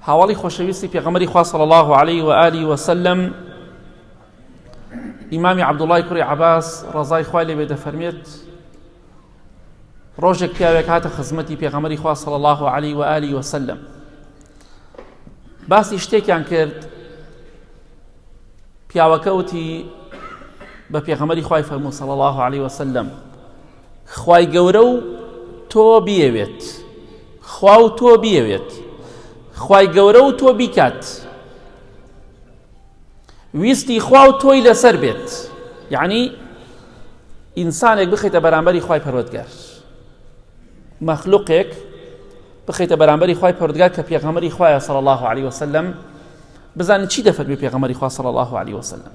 هاوەڵی خۆشەویستی پێغەمەری خوا صلی الله علیه و آله و سلم ئیمامی عەبدوڵای کوڕی عەباس ڕەزای خوای لێ بێ دەفەرمێت ڕۆژێک پیاوێک هاتە خزمەتی پێغەمەری خوا صلی الله علیه و آله و سلم باسی شتێکیان کرد پیاوەکە وتی بە پێغەمەری خوای فەرموو صلی الله علیه و سلم خوای گەورە و تۆ بیەوێت خوا و تۆ بیەوێت خوای گەورە و تۆ بیکات ویستی خوا و تۆی لەسەر بێت یعنی ئینسانێک بخیتە بەرامبەری خی پەرۆتگار مەخلوقێک بخیتە بەرامبەری خی پردگار کە پێغەمەری خخوایە سەڵ الله عليه وسلم بزانین چی دەفەرمی پێغەمەری خوا سەڵ الله عليه وسلم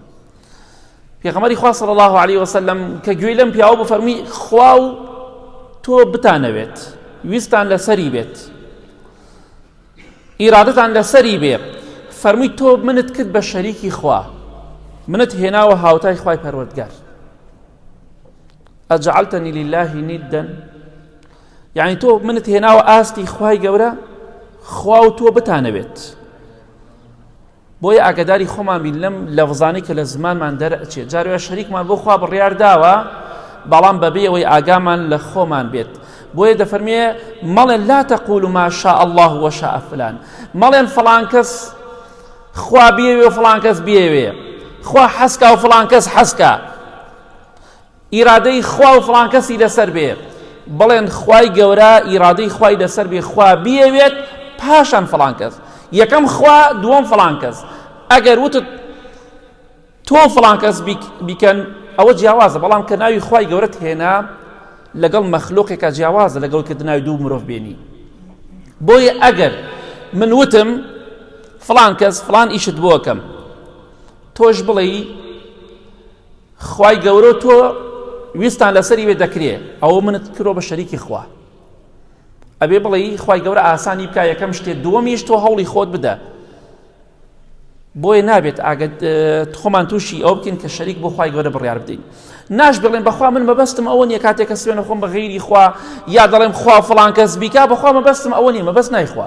پێغەمەری خوا صلی الله علیه وسلم کە گوێی لەم پیاوە بۆ فەرمی خوا و تۆ بتانەوێت ویستان لەسەری بێت ئیرادتان لەسەری بێ فەرمی تۆ منت کرد بە شەریکی خوا منت هێناوە هاوتای خوای پەروەردگار ئەجعلتنی لله نیدەن یعنی تۆ منت هێناوە ئاستی خوای گەورە خوا و تۆ بتانەوێت بۆیە ئاگەداری خۆمان بین لەم لەفزانەی کە لە زمانمان دەرئەچێت جارێ شەریکمان بۆ خوا بڕیار داوە بەڵام بەبێ ئەوەی ئاگامان لە خۆمان بێت بۆیە دەفەرمێ مەڵێن لا تەقول ما شاء الله وشاء فلان مەڵێن فلان کەس خوا بێوێ و فلان کەس بێوێ خوا حەسکا و فلان کەس حەسکە ئیرادەی خوا و فڵان کەسی لەسەر بێ بڵێن خوای گەورە ئیرادەی خوای لەسەر بێ خوا بیەوێت پاشان فڵان کەس یەکەم خوا دووەم فڵان کەس ئەگەر وتت تۆ فڵان کەس بیکەن ئەوە جیاوازە بەڵام کە ناوی خوای گەورەت هێنا لەگەڵ مەخلوقێکە جیاوازە لەگەڵ کە ناوی دوو مرۆڤ بێنی بۆیە ئەگەر من وتم فلان کەس فلان ئیشت بۆکەم تۆش بڵێ خوای گەورەو تۆ ویستان لەسەری وێ دەکرێ ئەوە منت کرۆ بە شەریکی خوا ئەبێ بڵێی خوای گەورە ئاسانی بکە یەکەم شتێ دووەمیش تۆ هەوڵی خۆت بدە بۆیە نابێت ئاگەت خۆمان تووشی ئەو بکەین کە شەریک بۆ خی گەورە بڕیار بدەین ناش بڵێن بەخوا من مەبەستم ئەوە نیە کاتێک کە سوێنە خۆم بە غیری خوا یا دەڵێم خوا فلان کەس بیکا بەخوا مەبەستم ئەوە نیە مەبەست نایخوا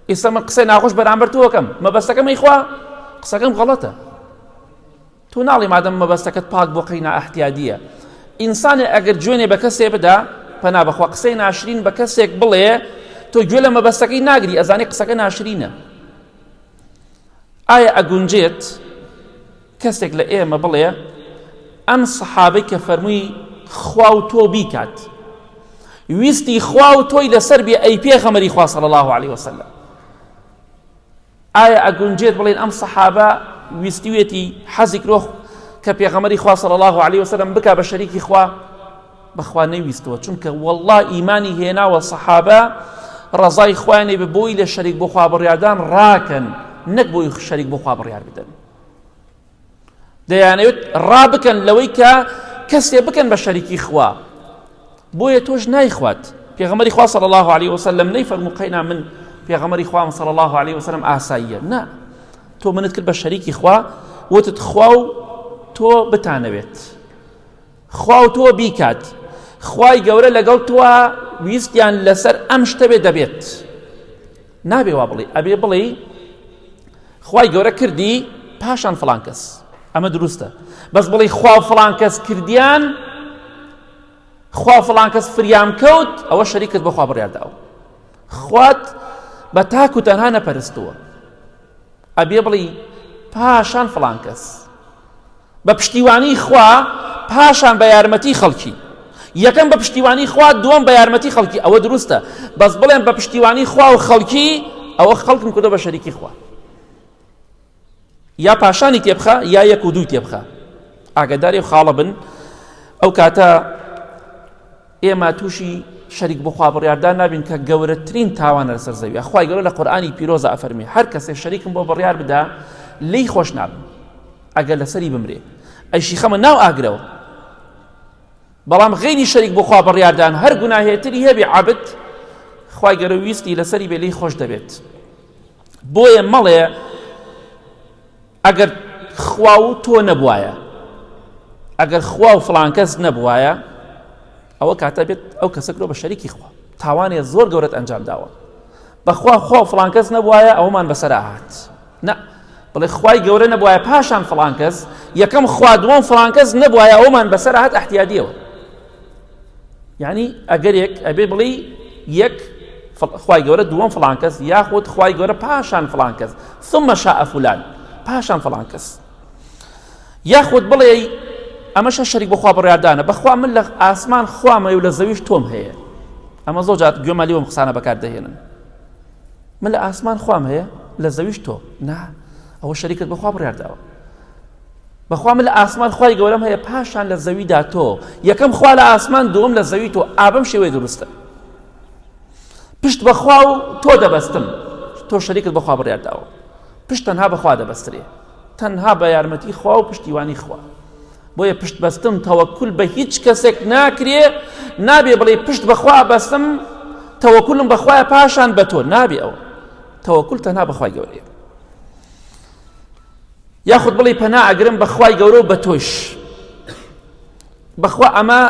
ئیستا من قسەی ناخۆش بەرامبەر تۆکەم مەبەستەکەم ئەیخوا قسەکەم غەڵەتە تو ناڵی مادەم مەبەستەکەت پاک بۆ قەی نائەحتیادیە ئینسانێ ئەگەر جوێنێ بە کەسێ بدا پەنا بەخوا قسەی ناشرین بە کەسێک بڵێ تۆ گوێ لە مەبەستەکەی ناگری ئەزانی قسەکە ناشرینە ئایا ئەگونجێت کەسێک لە ئێمە بڵێ ئەم سەحابەی کە فەرمووی خوا و تۆ بیکات ویستی خوا و تۆی لەسەر بێ ئەی پێغەمەری خوا صلی الله عليه وسلم ئایا ئەگونجێت بڵێن ئەم سەحابە ویستوێتی حەزی کرۆ کە پێغەمەری خوا صلی الله علیه وسلم بکا بە شەریکی خوا بەخوا نەویستەوە چونکە والله ئیمانی هێناوە سەحابە ڕەزای خوانێ بە بۆی لە شەریک بۆ خوا بڕیاردان ڕاکەن نەک بۆی شەریک بۆ خوا بڕیار بدەن دەیانەوێت ڕابکەن لەوەی کە کەسێ بکەن بە شەریکی خوا بۆیە تۆش نایخوات پێغەمەری خوا صلی الله عليه وسلم نەی فەرمو قەینا من پێغەمەری خوام صلی الله عليه وسلم ئاساییە نا تۆ منت کرد بە شەریکی خوا وتت خوا و تۆ بتانەوێت خوا و تۆ بیکات خوای گەورە لەگەڵ تۆوە ویستیان لەسەر ئەم شتە بێ دەبێت نابێ وا بڵێ ئەبێ بڵێ خوای گەورە کردی پاشان فلان کەس ئەمە دروستە بەس بڵێ خوا فلان کەس کردیان خوا فلان کەس فریام کەوت ئەوە شەریکت بەخوا بڕیارداوە خوات بە تاک و تەنها نەپەرستووە ئەبێ بڵی پاشان فلان کەس بە پشتیوانی خوا پاشان بە یارمەتی خەڵکی یەکەم بە پشتیوانی خوا دووەم بە یارمەتی خەڵکی ئەوە دروستە بەس بڵێن بە پشتیوانی خوا و خەڵکی ئەوە خەڵکم کردو بە شەریکی خوا یا پاشانی تێبخە یا یەک و دوو تێبخە ئاگداری خاڵە بن ئەو کاتە ئێمە تووشی شەریک بخوا بڕیاردان نابین کە گەورەترین تاوانە لەسەر زەوی خخوای گەورە لە قورآانی پیرۆزە ئەفەرمی هەر کەسێک شەریکم بۆ بڕیار بدا لی خۆش نابن ئەگەر لەسەری بمرێ ئەیشی خەمە ناو ئاگرەوە بەڵام غێنی شەریک بۆ خوا بڕیاردان هەر گوناهێتری هەبێ عبد خی گەرە ویستی لەسەری بێ لی خۆش دەبێت بۆیە مەڵێ ئەگەر خوا و تۆ نەبواە ئەگەر خوا و فلانکەس نەبواە ئەوە کاتە بێت ئەو کەسە کرۆ بە شەریکی خوا تاوانێ زۆر گەورەت ئەنجام داوە بەخوا خۆ فلان کەس نەبواە ئەومان بەسەر هاات نە بڵێ خی گەورە نەبواە پاشان فلان کەس یەکەم خوا دووەم فلان کەس نەبواە ئەومان بەسەر هاات احتیادیەوە یعنی ئەگەرێک ئەبێ بڵێ یەک خی گەورە دووەم فلان کەس یاخود خی گەورە پاشان فلان کەس ثم شاء فلان پاشان فلان کەس یاخود بڵێی ئەمەشە شەریک بەخوا بڕاردانە بەخوا من لە ئاسمان خوامەی و لە زەویش تۆم هەیە ئەمە زۆر جات گوێمە لێوم قسانە بەکار دەهێنن من لە ئاسمان خوام هەیە لە زەویش تۆ نا ئەوە شەریکت بەخوا بڕارداوە بەخوا من لە ئاسمان خی گەورەم هەیە پاشان لە زەویدا تۆ یەکەم خوا لە ئاسمان دوم لە زەوی تۆ ئابم شێوەی دروستە پشت بەخوا و تۆ دەبەستم تۆ شەریکت بەخوا بڕارداوە پشت تەنها بە خوا دەبەسترێ تەنها بە یارمەتی خوا و پشتیوانی خوا بۆیە پشت بەستن تەوەکل بە هیچ کەسێک ناکرێ نابێ بڵێ پشت بەخوا بەستم تەوەکلم بەخوای پاشان بە تۆ نابێ ئەوە تەوەکل تەنها بەخوای گەورەیە یاخود بڵێ پەنا ئەگرم بەخوای گەورە و بە تۆش بەخوا ئەمە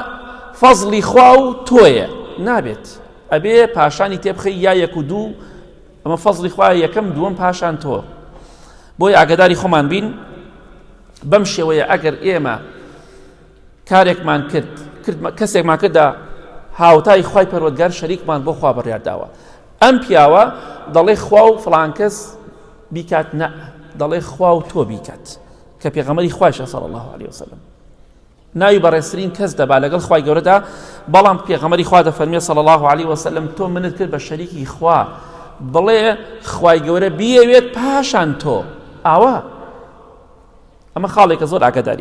فەزلی خوا و تۆیە نابێت ئەبێ پاشانی تێبخی یا یەک و دوو ئەمە فەزڵی خوایە یەکەم دووەم پاشان تۆ بۆی ئاگداری خۆمان بین بەم شێوەیە ئەگەر ئێمە کارێکمان کرد کەسێکمان کرددا هاوتای خی پەروەگار شەریکمان بۆ خوا بڕیارداوە ئەم پیاوە دەڵێ خوا و فلانکەس بیکات نە دەڵێ خوا و تۆ بیکات کە پێغەمەری خواشە سەڵ الله عليه وسلم ناوی بەڕێزترین کەس دەبا لەگەڵ خوای گەورەدا بەڵام پێغەمەری خوا دەفەرمێ صلی الله علیه وسلم تۆ منت کرد بە شەریکی خوا بڵێ خوای گەورە بیەوێت پاشان تۆ ئاوا ئەمە خاڵێکە زۆر ئاگداری